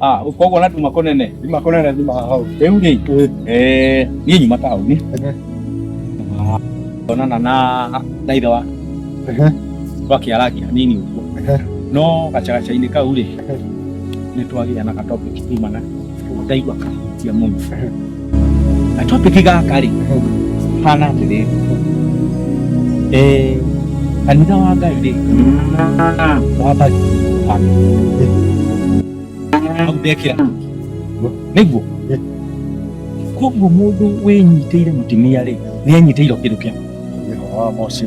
Ah, ukoguo na tuma kunene Thima kũnene thima hau. riu ri eh ni nyuma tauni onana na na ithe wa Ehe. twakiaragia nini uguo Ehe. no gacagaca-inĩ kau rĩ nĩ twagĩa na gatopic tumana ndaigua kahutia mũno na topic gaka rĩ hana atĩrĩ eh kanitha wa ngai rĩ wamba au ndekĩra nĩguo koguo mũndũ wĩnyitĩire mũtumia rĩ nĩ anyitĩirwo kĩndũ kĩa Nĩho wa Mose.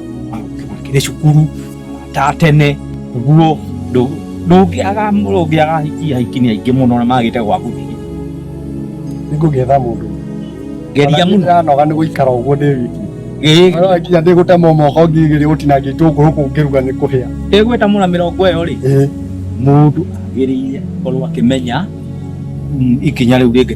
kiri cukuru ta tene guo ndungiaga ndungiaga hiki hiki ni aingi muno na magite gwa guthii ningũgetha mũndũ geria muno ndanoga nĩ gũikara ũguo ndĩ wiki Ĩĩ, Ona nginya ndĩ gũtema moko ngigĩrĩ gũtinangia itũngũrũ kũu ngĩruga nĩ kũhĩa ĩgweta mũna mĩrongo ĩyo rĩ Ĩĩ. mũndũ agĩrĩire korwo akĩmenya mm, ikinya rĩu rĩngĩ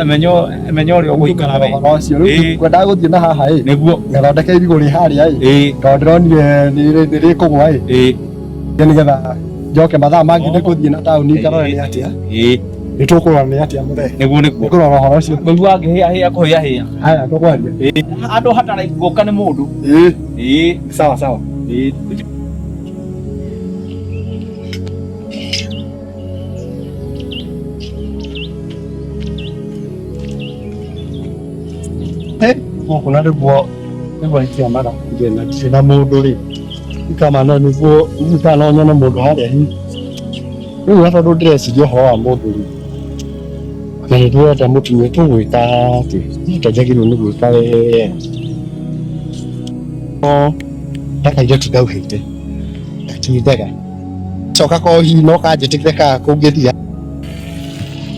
emenyo emenyo ri ogwikara we Thogora ũcio Ĩĩ. rĩu kwendaga gũthiĩ na haha ĩ niguo ngathondeka irigũ rĩ harĩa ĩ ĩ tondũ ndĩronire nĩ rĩkũgwa ĩ ĩ Nĩ nĩgetha njoke mathaa mangĩ nĩ gũthiĩ na taũni ngarore nĩ atĩa ĩ nĩ tũkũrora nĩ atĩa mũthee niguo niguo nĩ kũrora ũhoro ũcio ngĩigua ngĩhĩa hĩa kũhĩa hĩa haya tũkwaria ĩ andũ hatara guoka nĩ mũndũ ĩ ĩ sawa sawa ĩ gũkũ na nĩguo nĩguo ingĩonaga ngĩna ndirĩ na mũndũ rĩ ikamana nĩguo itanonya na mũndũ harĩa hi rĩu na tondũ ndĩreciria ũhoro wa mũndũ rĩ na nĩ ndĩrenda mũtumia tũgwĩka atĩ nake njagĩrĩirwo nĩ gwĩka wega no ndakaire tũtauhĩte ndatindaga coka ko hihi no kanjĩtĩkĩre ka kũngĩthia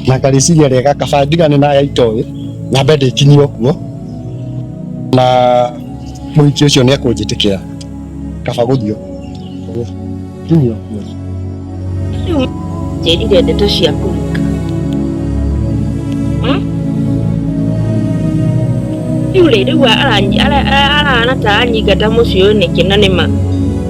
na ngarĩciria rĩega kaba ndigane na ya itoĩ nyambe ndĩkinyie kuo na mũhiki ũcio nĩ ekũnjĩtĩkĩra kaba gũthiĩ kuo kinyio kuo Rĩu njĩrire ndeto cia kũruka rĩu rĩ rĩu arana ta anyingata mũciĩ ũyũ nĩkĩ na nĩma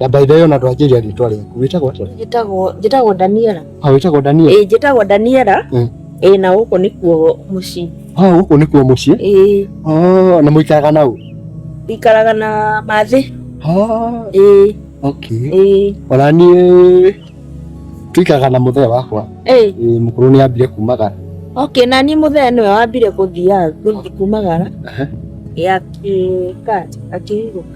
Na by the way ona twanjĩria rĩtwa rĩaku wĩtagwo atĩa? Njĩtagwo njĩtagwo Daniela. Ah, wĩtagwo Daniela? Ĩĩ njĩtagwo Daniela. Mm. Ĩĩ na gũkũ nĩkuo mũciĩ. Ah, gũkũ nĩkuo mũciĩ? Ĩĩ. Oh, na mũikaraga na ũ? Ikaraga na mathĩ. Ah. Ĩĩ. Okay. Ĩĩ. Ona niĩ tuikaraga na mũthee wakwa. Ĩĩ. Ĩĩ mũkũrũ nĩ ambire kumagara. Okay, na niĩ mũthee nĩwe wambire gũthiaga kumagara. Aha. Ĩĩ akĩ akĩhurũka.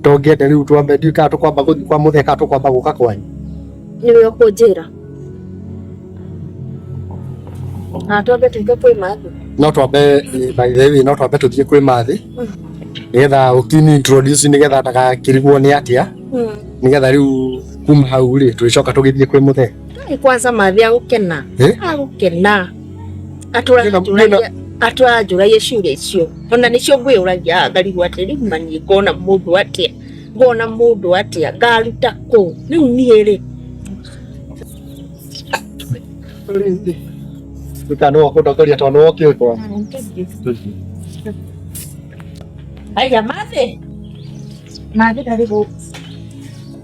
Ndongĩenda rĩu twambe ndiũĩ kana tũkwamba gũthiĩ kwa mũthee kana tũkwamba gũka kwanyu. Nĩwe ũkũnjĩra. Na twambe tũke kwĩ mathi. No twambe eh, by the way no twambe tũthiĩ kwĩ mathi. Nĩgetha ũkĩni introduce nĩgetha ndagakĩrigwo nĩ atĩa. Nĩgetha rĩu kuma hau rĩ tũgĩcoka tũgĩthiĩ kwĩ mũthee. Nĩ kwanza mathi agũkena. Eh? Agũkena. atũranjũragia ciũria icio ona nĩcio ngwĩyũragia ngarigwo atĩ rĩu mani ngona mũndũ atĩa ngona mũndũ atĩa ngaruta kũ rĩu niĩ rĩ kana wakundakoria twana wokĩtwa aya mathĩ mathĩ ndarĩ gũkũ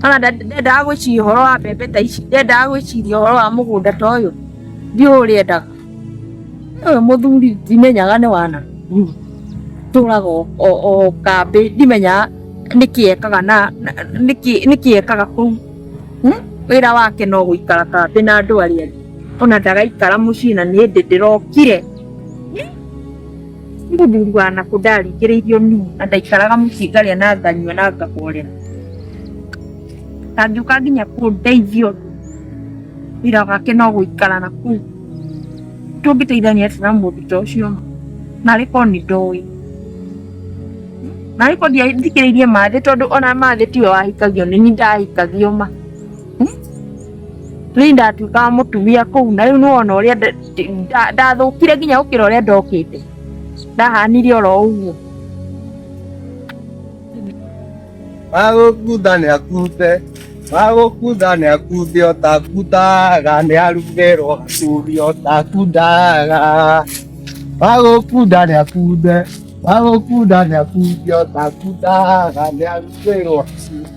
kana nda- ndendaga gwĩciria ũhoro wa mbembe ta ici ndendaga gwĩciria ũhoro wa mũgũnda ta ũyũ ndiũĩ ũrĩa endaga ũyũ mũthuri ndimenyaga nĩ wana tũraga o- o o kambĩ ndimenyaga nĩkĩ ekaga na na- nĩkĩ nĩkĩ ekaga kũu Hmm? wĩra wake no gũikara kambĩ na andũ arĩa angĩ ona ndagaikara mũciĩ na nĩ ndĩ ndĩrokire Nĩ mũthuri wa nakũ ndaringĩrĩirio niĩ na ndaikaraga mũciĩ ngarĩa na nganyua na ngahorera. Ndangĩũka nginya kũndeithia ũndũ wĩra wake no gũikara na kũu. Tũngĩteithania atĩa na mũndũ ta ũcio ma? Narĩ korwo nĩ ndoĩ. Narĩ korwo ndiathikĩrĩirie mathĩ tondũ ona mathĩ tiwe wahikagio nĩ niĩ ndahikagio ma. Rĩu ndatuĩkaga mũtumia kũu na rĩu nĩwona ũrĩa nda- nda- ndathũkire nginya gũkĩra ũrĩa ndokĩte ndahanire oro ũguo Magũkunda nĩ akunde, magũkunda nĩ akunde, ũtakundaga nĩ arugerwo gacumbĩ, ũtakundaga. Magũkunda nĩ akunde, magũkunda nĩ akunde, ũtakundaga nĩ arugerwo gacumbĩ.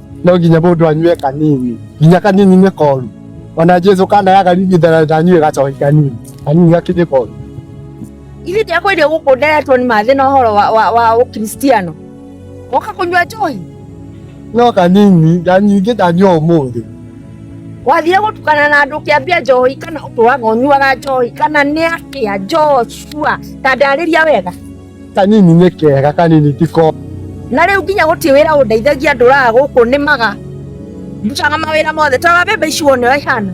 no nginya mũndũ anyue kanini nginya kanini nĩ koru ona jesu kana yakaringithana ndanyue gacoki kanini kanini gakinyĩ koru ithuĩ ndiakwĩrire gũkũ nderetwo nĩ mathĩ na ũhoro wa- wa- wa ũkristiano woka kũnyua njohi no kanini na nyingĩ ndanyua ũmũthĩ wathire gũtukana na andũ ũkĩambia njohi kana ũtũraga ũnyuaga njohi kana nĩ atĩa njoshua ta ndarĩria wega kanini nĩ kega kanini ti ko na rĩu nginya gũtirĩ wĩra ũndeithagia ndũraga gũkũ nĩmaga ndutaga mawĩra mothe tara mbembe ici wone ũrĩa ihana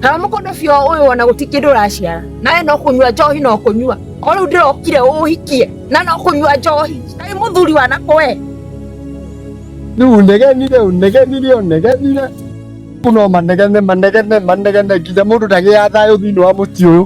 tara mũkondobia ũyũ wona gũtirĩ kĩndũ ũraciara nawe no kũnyua njohi no kũnyua o rĩu ndĩrokire ũhikie na no kũnyua njohi kaĩ mũthuri wanakũ we rĩu ũnegenire ũnegenire ũnegenire Rĩu no manegene manegene manegene nginya mũndũ ndagĩaga thayũ thĩinĩ wa mũciĩ ũyũ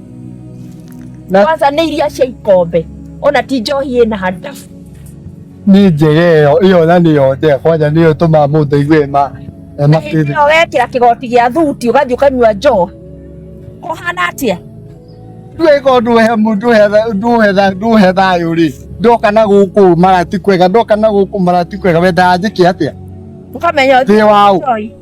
Na- kwanza nĩ iria cia ikombe ona ti njohi ĩna handabu nĩ njega ĩyo ĩyo na nĩyo njega kwanja nĩyo ĩtũmaga mũndũ aigue ma na hĩndĩ makĩria ĩyo wekĩra kĩgoti gĩa thuti ũgathiĩ ũkanyua njohi kũhana atĩa ndwĩka ũndũ he mũndũ ndũhetha ndũhe thayũ rĩ ndoka na gũkũ mara ti kwega ndoka na gũkũ mara ti kwega wendaga njĩke atĩa ũkamenya ndĩ waũ njohi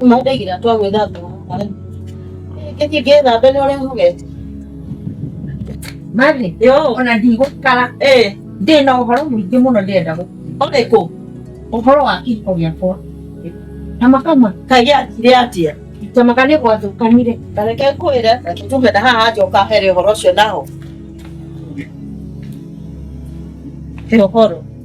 Mandagira twa gwĩthamba marĩ. Gĩthiĩ ngĩthambe nĩ ũrĩa hugete. Mathi, Yo. ona ndigũikara Eh, ndĩ na ũhoro mũingĩ mũno ndĩrenda gũ- ole kũ. ũhoro wa kĩhiko gĩakwa na makama Kaige atire atia. tamaga nĩ gwathũkanire Tareke kwĩre, tume na haha njoka here ũhoro ũcio naho. He ũhoro.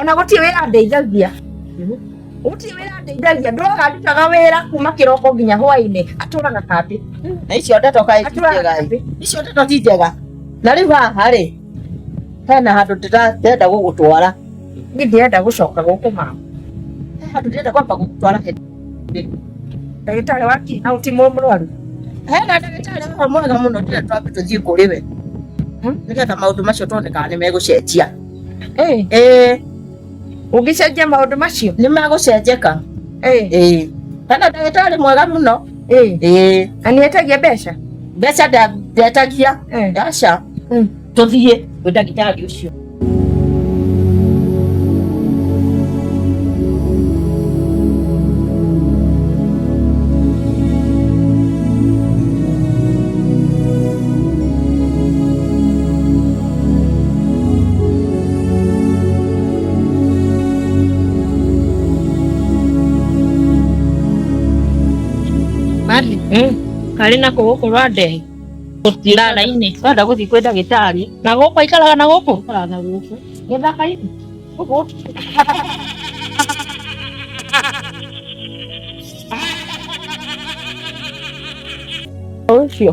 ona gũtirĩ wĩra ndeithagia gũtirĩ wĩra ndeithagia ndũraga ndutaga wĩra kuma kĩroko nginya hwainĩ atũraga kambĩ na icio ndeto kaĩ ti Atũraga njega kambĩ. icio ndeto ti njega na rĩu haha rĩ hena handũ ndĩra- ndĩrenda gũgũtwara niĩ ndirenda gũcoka gũkũ mama He handũ ndĩrenda kwamba gũgũtwara he- ndagĩtarĩ wa kĩ na ũti mũ- mũrwaru hena ndagĩtarĩ haha mwega mũno ndĩrenda twambe tũthiĩ kũrĩ we Hmm? nĩgetha maũndũ macio tuone kana nĩ megũcenjia ũngĩcenjia maũndũ macio nĩ magũcenjeka kana ndagĩtarĩ mwega mũno na nĩ etagia mbeca mbeca ndetagia aca mm. tũthiĩ gwĩ ndagĩtarĩ ũcio Mari, karĩ na kũgũkũ rwa ndehi ndara-inĩ wenda gũthiĩ kwĩ ndagĩtarĩ na gũkũ aikaraga na gũkũ na gũkũ gĩthaka-inĩ gũkũ ũcio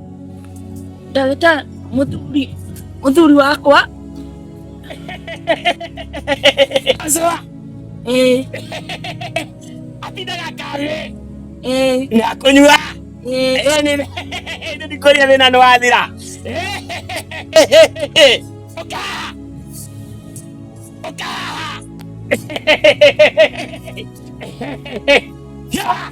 ndagĩtarĩ mũthuri mũthuri wakwa Azwa. Eh. Atindaga karĩ. Eh. Na kũnyua. Eh. Eh nĩ nĩ ndikũria thĩna nĩ wathira. Oka. Oka. Yeah.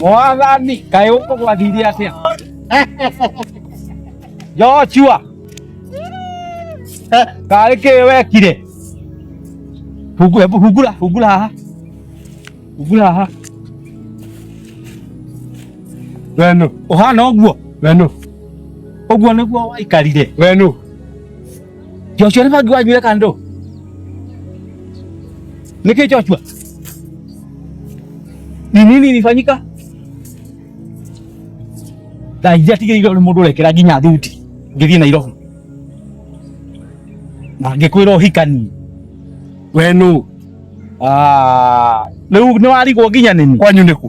mwathani kaĩ ũkũgwathirie atĩa joshua karĩ kĩ wekire Hungu- hebu hungura hungura haha hungura haha wenu ũhana ũguo wenu ũguo nĩguo waikarire wenu Joshua nĩma ngiwanyuire kandũ nĩkĩ Joshua ni nini ilifanyika thaa iria tigĩrĩire nĩ mũndũ ũrekera nginya thuti ngĩthiĩ Nairobi na ngĩkwĩra ũhikanie we nũ rĩu nĩ warigwo nginya nĩni kwanyu nĩkũ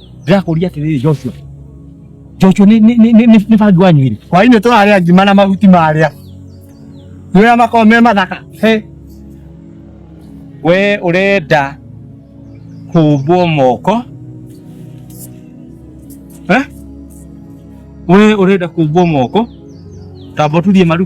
Ndĩrakũria atĩrĩrĩ Joshua. Joshua nĩ nĩ nĩ nĩ nĩ bangi wanyu rĩ? Hwaĩ-inĩ tũrarĩa ngima na mahuti marĩa. Nĩũrĩa makoragwo me mathaka. He. We ũrenda kũmbwo moko? Eh? We ũrenda kũmbwo moko? Tamba ũturie maru.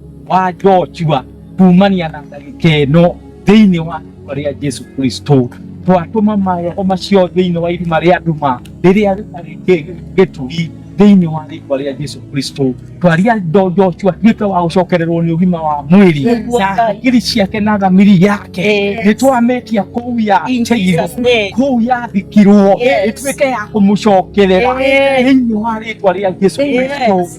wa Joshua kumania na ndagĩka ĩno thĩinĩ wa rĩĩtwa rĩa Jesu Kristo twatũma maroho macio thĩinĩ wa irima rĩa nduma rĩrĩa rĩtarĩ kĩ- gĩturi thĩinĩ wa rĩĩtwa rĩa Jesu Kristo twaria ndo Joshua tuĩke wa gũcokererwo nĩ ũgima wa mwĩrĩ Nĩguo na Ngai. hakiri ciake na thamiri yake Yes. nĩ twametia kũu ya In Cairo Jesus' name. kũu yathikirwo Yes. ĩtuĩke ya kũmũcokerera Yes. thĩinĩ wa rĩĩtwa rĩa Jesu Yes. Kristo